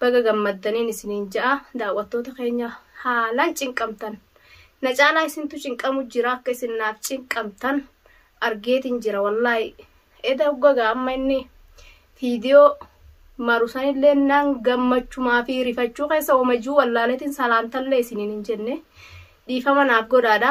Baga gammaddaniin isiniin ja'a daawwattoota keenya haalaan cinqamtan na caalaa isintu cinqamu jira akka isin naaf cinqamtan argeetin jira wallaahi eda uggagaa amma inni fiidiyoo maru sanillee nan gammachumaa fi rifachuu keessa wamajuu wallaaleetin salaamtallee isiniin hin jenne dhiifama naaf godhaadha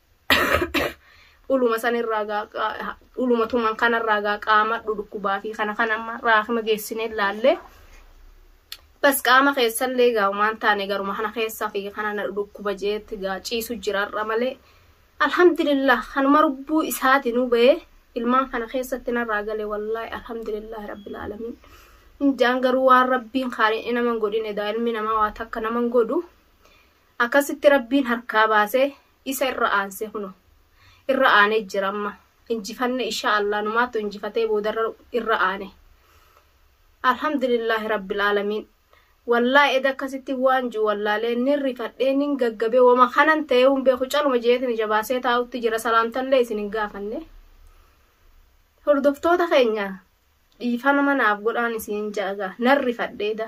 dhuluma sanirraa gaa dhuluma tuman kanarraa gaa qaama dhukkubaa fi kana kan amma raakima geessinee ilaallee bas qaama keessallee gaa waan taane garuma kana keessaa fi kana na dhukkuba jeetti gaa ciisu jiraarra malee alhamdulillah kanuma lubbuu isaati nu ba'ee ilmaan kana keessatti narraa gale wallaahi alhamdulillah rabbil aalamiin injaan garuu waan rabbiin kaaniin naman godhine daa ilmi namaa waa takka naman godhu Akkasitti Rabbiin harkaa baase isa irra aanse kuno irra aane jira amma injifanne isha Allah numaatu injifatee boodarra irra aane Alhamdulillah Rabbil Alamiin Wallahi eda akkasitti waan ji'u wallaalee nin rifadhee nin gaggabe wama kanan ta'ee hin beeku caluma jeetin ija baasee taa'utti jira salaamtallee isin hin gaafanne hordoftoota keenya dhiifama naaf godhaan isin jaaga nan rifadhe eda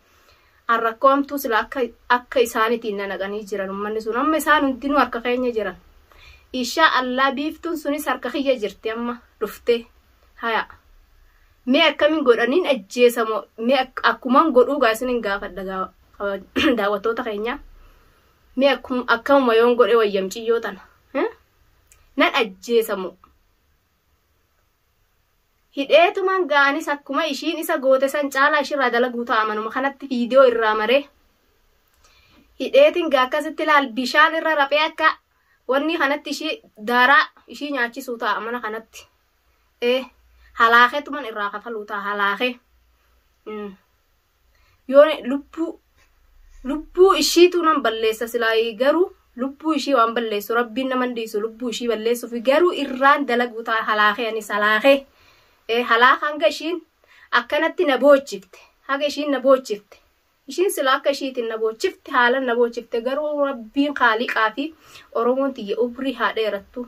An rakkoo hamtuu sila akka akka isaanitiin na naqanii jiran ummanni sun amma isaan hundinuu harka keenya jiran. Ishaa allaa biiftuun sunis harka kiyya jirti amma dhuftee. Haya. Mee akkamin godhaniin ajjeesa moo mee ak- akkuman godhuu gaa isinin gaafadha gaa kaba- daawwattoota keenya. Mee akkum- akkamuma yoon godhe wayya miciyyoo tana. Eh? Nan ajjeesa moo? Hidheetuman gaa anis akkuma ishiin isa goote san caalaa ishirraa dalaguu ta'a manuma kanatti viidiyoo irraa maree. Hidheetin gaa akkasitti laal bishaan irra raphee akka wanni kanatti ishii daaraa ishii nyaachisuu ta'a mana kanatti. Ee halaakeetuman irraa kafaluu ta'a halaakee. Mm. yoon lubbuu lubbuu ishiitu nan balleessa silaa garuu lubbuu ishii waan balleessu rabbiin nama hin dhiisu lubbuu ishii balleessuuf garuu irraan dalaguu ta'a halaakee anis halaakee ee halaaka hanga ishiin akkanatti na boochifte haga ishiin na boochifte ishiin sila akka ishiitiin na boochifte haalan na boochifte garuu rabbiin kaaliqaa fi oromoon tiyya ubrii haa dheerattu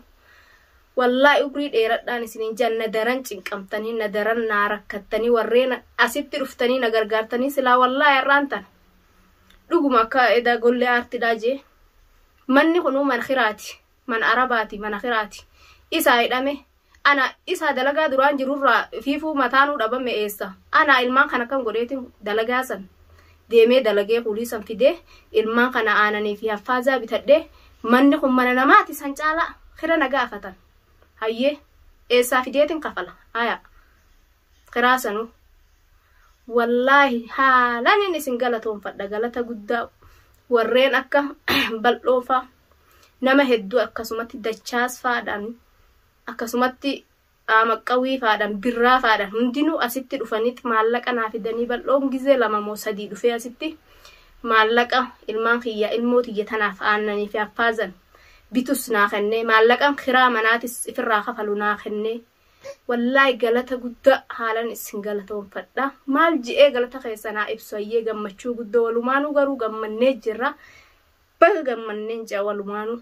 Wallahi umrii dheeradhaan isiniin jaan na daran cinqamtanii na daran naa rakkattanii warreen asitti dhuftanii na gargaartanii silaa wallahi har'aan tana dhuguma akka edaa gollee aartidhaa jee manni kunuu man kiraati man arabaati mana kiraati isaa hidhame ana isaa dalagaa duraan jirurraa fiifuu mataanuu dhabame eessa ana ilmaan kan akkam godheetiin dalagaa san deemee dalagee kuulii san fidee ilmaan kana aananii fi haffaazaa bitadhee manni kun mana namaati san caalaa kira na gaafatan hayyee eessaa fideetin kafala ayaa kiraa sanuu wallaahi haalanin isin galatoonfadha galata guddaa warreen akka bal'oofaa nama hedduu akkasumatti dachaasfaadhaan akkasumatti Aamaqqawwii faadhan, Birraa faadhan hundinuu asitti dhufanit maallaqa naa fidanii bal'oon gizee lama moo sadii dhufee asitti maallaqa ilmaan kiyya ilmoo tiyya tanaaf aannanii fi haffaazan bitus naa kennee maallaqan kiraa manaatis ifirraa kafalu naa kennee wallaahi galata gudda haalan issin galatoonfadha maal je'ee galata keessan haa ibsu hayyee gammachuu guddo walumaanuu garuu gammannee jirra baga gammanneen je'a walumaanuu.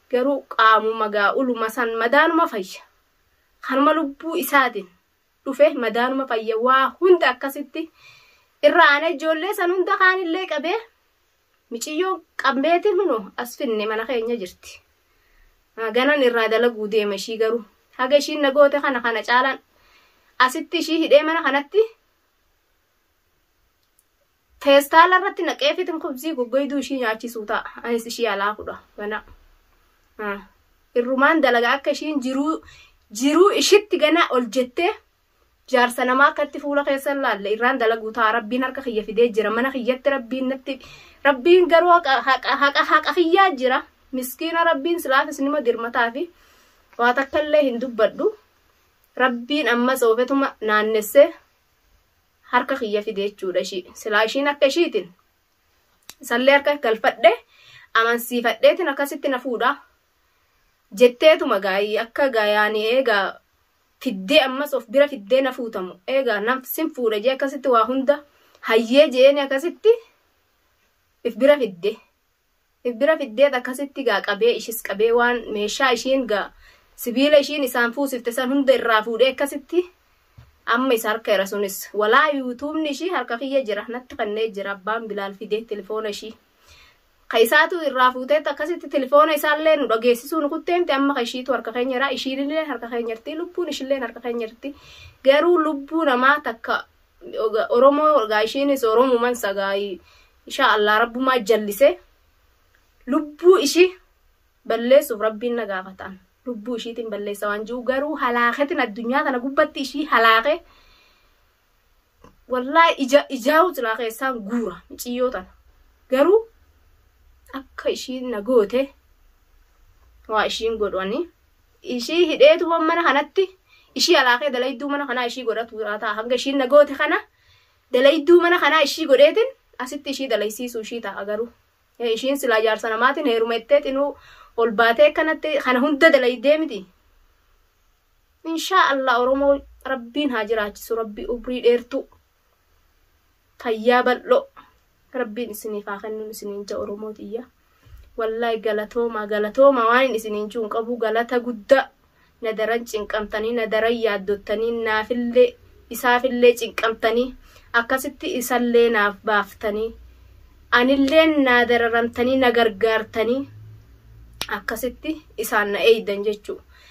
Garuu qaamuma gaa'uluma san madaanuma fayya. Kanuma lubbuu isaatin dhufe madaanuma fayya waa hunda akkasitti irra aanee ijoollee san hunda kaanillee qabee miciyyoon qabmeetin huno as finne mana keenya jirti. Ganan irraa dalaguu deema ishii garuu haga ishiin na goote kana kana caalaan asitti ishii hidhee mana kanatti Feestaala irratti naqee fitin kubzii goggoyduu ishii nyaachisuu ta'a. Anis ishii alaa fudha. Gana. Ah. Irrumaan dalaga akka ishiin jiruu jiruu ishitti gana ol jettee jaarsa namaa akkatti fuula keessa hin laalle irraan dalaguu ta'a. Rabbiin harka kiyya fidee jira. Mana kiyyatti rabbiin natti rabbiin garuu haqa haqa haqa haqa kiyyaa jira. Miskiina rabbiin silaafis nima dirmataa fi waa takka illee hin dubbadhu. Rabbiin ammas oofetuma naannessee harka kiyya fide jechuudha ishii silaa ishiin harka ishiitiin isallee harka galfadhe amansiifadheetiin akkasitti na fuudha jetteetuma gaayii akka gaayaanii eegaa fiddee ammas of bira fiddee na fuutamu eegaa nan sin fuudha jee akkasitti waa hunda hayyee jeeni akkasitti if bira fidde if bira fiddeet akkasitti gaa qabee ishis qabee waan meeshaa ishiin gaa sibiila ishiin isaan fuusifte san hunda irraa fuudhee akkasitti amma isa harka era sunis walaa yuutuubni ishii harka kiyya jira natti kannee jira abbaan bilaal fidee telefoona ishii ka isaatu irraa fuuteet akkasitti telefoona isaallee nu dhageessisuu nu kutteemti amma ka ishiitu harka keenya jira ishiinillee harka keenya jirti lubbuun ishillee harka keenya jirti garuu lubbuu namaa takka Oromoo gaa ishiinis Oromuman sagaayii Ishaa Allah rabbumaa jallisee lubbuu ishii balleessuuf rabbiin na gaafataan lubbuu ishiitiin balleessa waan jiru garuu halaaketin addunyaa kana gubbatti ishii halaake wallaahi ija ijaa'uu silaa keessaan guura miciyyoo tana garuu akka ishiin na goote waa ishiin godhani ishii hidheetuma mana kanatti ishii halaakee dalayduu mana kanaa ishii godhatu ta'a hanga ishiin na goote kana Dalayduu mana kanaa ishii godheetin asitti ishii dalaysiisuu ishii taa'a garuu. Ishiin silaa jaarsa namaatin heeruma jettee xinuu ol baatee akkanatti kana hunda dalaydee miti. Inshaa Allah Oromoo Rabbiin haa jiraachisu Rabbii umrii dheertuu fayyaa bal'oo. Rabbiin isiniif haa kennuun isiniin ja Oromoo tiyya. Wallahi galatoomaa galatoomaa waanin isiniin juun qabuu galata guddaa na daran cinqamtanii na daran yaaddottanii naafillee isaafillee cinqamtanii akkasitti isallee naaf baaftanii anilleen naa dararamtanii na gargaartanii akkasitti isaan na eeydan jechuu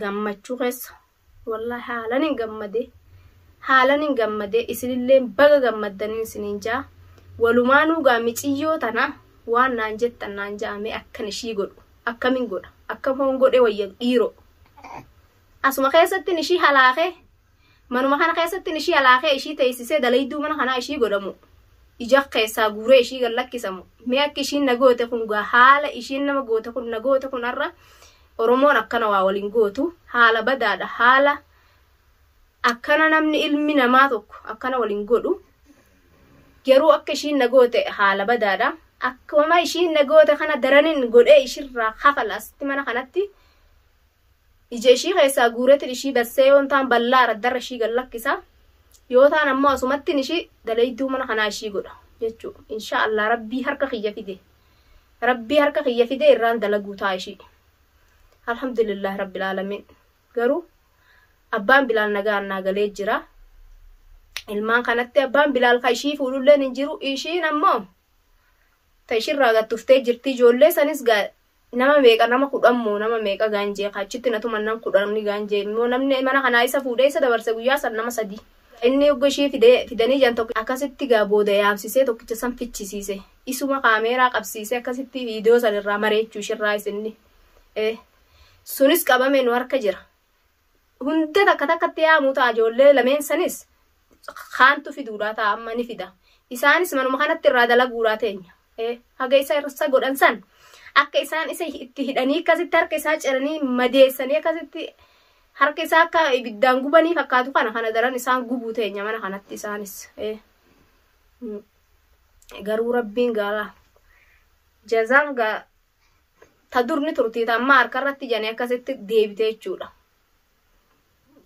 gammachuu keessa wallahi haalan hin gammade haalan hin gammade isinillee baga gammaddanii isiniin jaa walumaanuu gaa miciyyoo tana waan naan jettan naan jaame akkan ishii godhu akkamin godha akkam hoon godhe wayya dhiiroo asuma keessattin ishii halaakee Manuma kana keessatti ishii alaakee ishii teessisee dalayduu mana kanaa ishii godhamu. Ija keessaa guuree ishii gad lakkisamu. Mee akka ishiin na goote kun gaa haala ishiin nama goote kun na goote kun har'a Oromoon akkana waa waliin gootu haala badaadha haala akkana namni ilmi namaa tokko akkana waliin godhu garuu akka ishiin na goote haala badaadha. Akkuma ishiin na goote kana daranin godhee ishirraa kafala asitti mana kanatti Ija ishii keessaa guuretin ishii bassee yoon taan ballaa araddarra ishii gad lakkisa yoo taan ammoo asumattin ishii dalayduu mana kanaa ishii godha jechu insha Allah rabbii harka kiyya fide rabbii harka kiyya fide irraan dalaguu taa ishii alhamdulillah rabbil alamin garuu abbaan bilaal nagaan naa galee jira ilmaan kanatti abbaan bilaal ka ishii fuudhulleen hin jiru ishiin ammoo ta ishirraa gattuftee jirti ijoollee sanis gaa Nama meeqa nama kudhan moo nama meeqa gaanjee ka achitti na tuman nam kudhan gaanjee immoo namni mana kanaa isa fuudhee isa dabarse guyyaa san nama sadii ka inni hogga ishii fide fidanii jedhan tokko akkasitti gaa booda yaamsisee tokkicha san fichisiise isuma kaameeraa qabsiisee akkasitti viidiyoo san irraa mareechuu ishirraayis inni ee sunis qabame nu harka jira Hunda takka takkatti yaamuu ta'a ijoollee lameen sanis kaantu fiduudhaa ta'a amma ni fida. Isaanis manuma kanatti irraa dalaguudhaa teenya. Haga isa irsa godhan san akka isaan isa itti hidhanii akkasitti harka isaa ciranii madeessanii akkasitti harka isaa akka ibiddaan gubanii fakkaatu kana kana daran isaan gubuu teenya mana kanatti isaanis. Garuu rabbiin gaara jazaan ta dur ni turtii ta ammaa harka irratti jane akkasitti deebite jechuudha.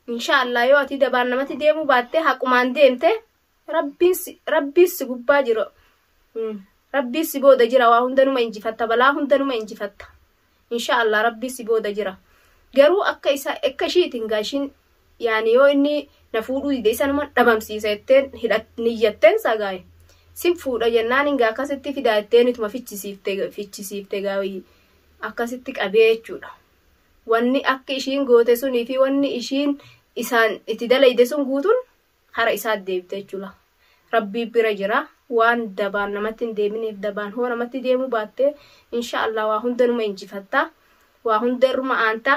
Inshaallah yoo ati dabaan namatti deemuu baatte haqumaan deemte rabbiin si gubbaa jira. Rabbiin si booda jira waa hunda numa injifatta balaa hunda numa injifatta. Inshaallah rabbiin si booda jira. Garuu akka isa akka ishiitiin gaashiin yaani yoo inni na fuudhuu dide isanuman dhabamsiisa jetteen hidhat niyyatteen sagaaye sin fuudha jennaan inga akkasitti fidaa jetteen ituma fichisiifte fichisiifte gaawii akkasitti qabee jechuudha wanni akki ishiin goote sunii fi wanni ishiin isaan itti dalayde sun guutun hara isaat deebite jechuudha rabbii bira jira waan dabaan namatti hin deeminiif dabaan hoo namatti deemuu baatte insha Allah waa hunda numa injifatta waa hunda irruma aanta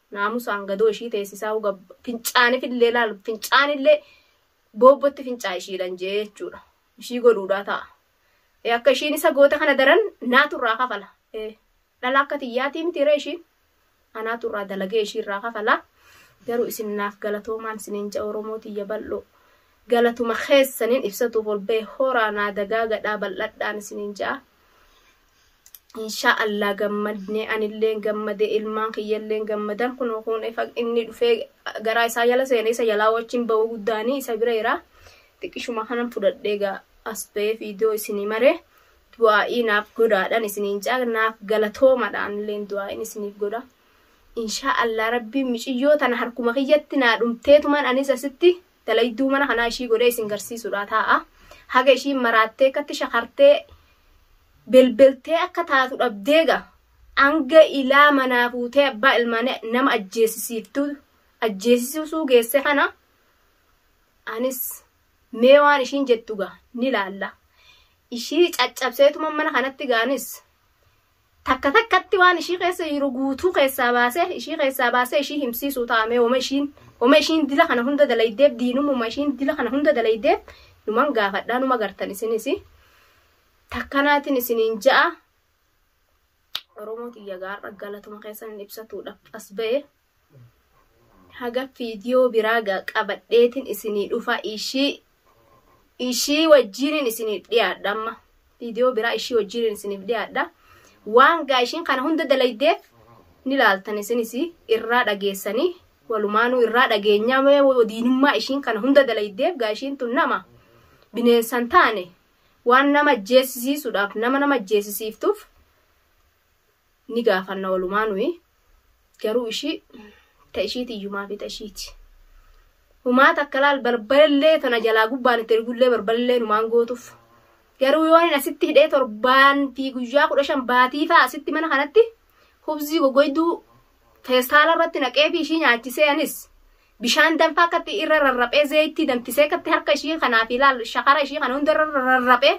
Naamusaan gadoo ishii teessisaa uga fincaanifillee laal fincaanillee boobbotti fincaa ishiidhan jee jechuudha. Ishii godhuudhaa ta'a. Ee akka ishiin isa goote kana daran naatu irraa kafala. Ee dhala akka tiyyaatii miti ree ishiin. Anaatu irraa dalagee ishii irraa kafala. Garuu isin naaf galatoomaan isiniin ja'a Oromoo tiyya bal'oo. Galatuma keessaniin ibsatuuf ol ba'e horaa naa dagaagadhaa bal'adhaan isiniin ja'a. inshaa allah gammadne anilleen gammade ilmaan kiyyalleen gammadan kun kun inni dhufee garaa isaa jala seene isa jalaa wajjin ba'uu guddaanii isa bira jira xiqqishuma kanan fudhadhee gaa as ba'ee fiidiyoo isinii maree du'aa'ii naaf godhaadhaan isiniin caa naaf galatoomadhaan illeen du'aa'iin isiniif godha inshaa allah rabbiin miciyyoo tana harkuma kiyyatti naa dhumteetumaan anis asitti Dalayduu mana kanaa ishii godhee isin garsiisuudhaa taa'a. Haga ishiin maraattee akkatti shakartee belbeltee akka taatu dhabdeega hanga ilaa manaa fuutee abbaa ilmaanii nama ajjeesisiiftuu ajjeesisuu geesse kana anis mee waan ishiin jettu gaa ni laalla. Ishii caccabseetuma mana kanatti gaanis Takka takkatti waan ishii keessa jiru guutuu keessaa baasee ishii keessaa baasee ishii himsiisuu taa'amee homa ishiin homa ishiin dila kana hunda dalaydeef diinumuma ishiin dila kana hunda dalaydeef numan gaafadhaa numa gartan isinis takkanaatiin isiniin ja'a Oromoo tiyya gaarra galatuma keessan ibsatuudhaaf as ba'e haga fiidiyoo biraa ga- qabadheetin isinii dhufa ishii ishii wajjiinin isiniif dhiyaadha amma fiidiyoo biraa ishii wajjiinin isiniif dhiyaadha waan gaa ishiin kana hunda dalaydeef ni laaltan isinis irraa dhageessanii walumaanuu irraa dhageenyaa mee diinummaa ishiin kana hunda dalaydeef gaa ishiin tun nama bineensan taane waan nama ajjeesisiisuudhaaf nama nama ajjeesisiiftuuf ni gaafanna walumaa nuyi garuu ishii ta ishiiti iyyumaa fi ta ishiiti humaa takka laal barbarellee tana jalaa gubbaan itti ergullee barbarellee numaan gootuuf garuu yoonin asitti hidhee torbaan fi guyyaa kudha shan baatii fa'a asitti mana kanatti hubzii gogoyduu feestaala irratti naqee fi ishii nyaachisee anis bishaan danfaa akkatti irra rarraphee zeeytii danfisee akkatti harka ishii kanaa fi laal shakara ishii kana hunda irra rarraphee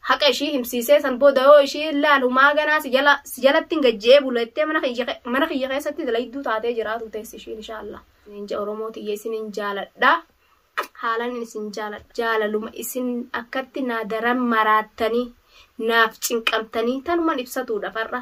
haqa ishii himsiisee san booda yoo ishii laalu maa ganaa si jala si jalatti hin gajje'ee bula jettee mana kiyya ke- mana kiyya keessatti dalayduu taatee jiraatu teessi ishiin inshaallah. Ninja Oromoo tiyya isin hin jaaladha. Haalan isin jaaladha. Jaalaluma isin akkatti naa daran maraattanii naaf cinqamtanii tanuman ibsatuudha far'a.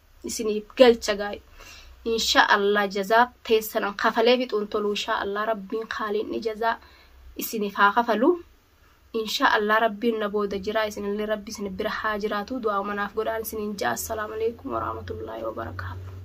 isiniif galcha gaa'e insha Allah jazaa teessanan kafalee fixuun toluu insha Allah rabbiin kaaliinni jazaa isiniif haa kafalu insha Allah rabbiin na booda jiraa isinillee rabbi isin bira haa jiraatu du'aa manaaf godhaan isiniin ja'a assalaamu alaikum warahmatullaahi wabarakaatu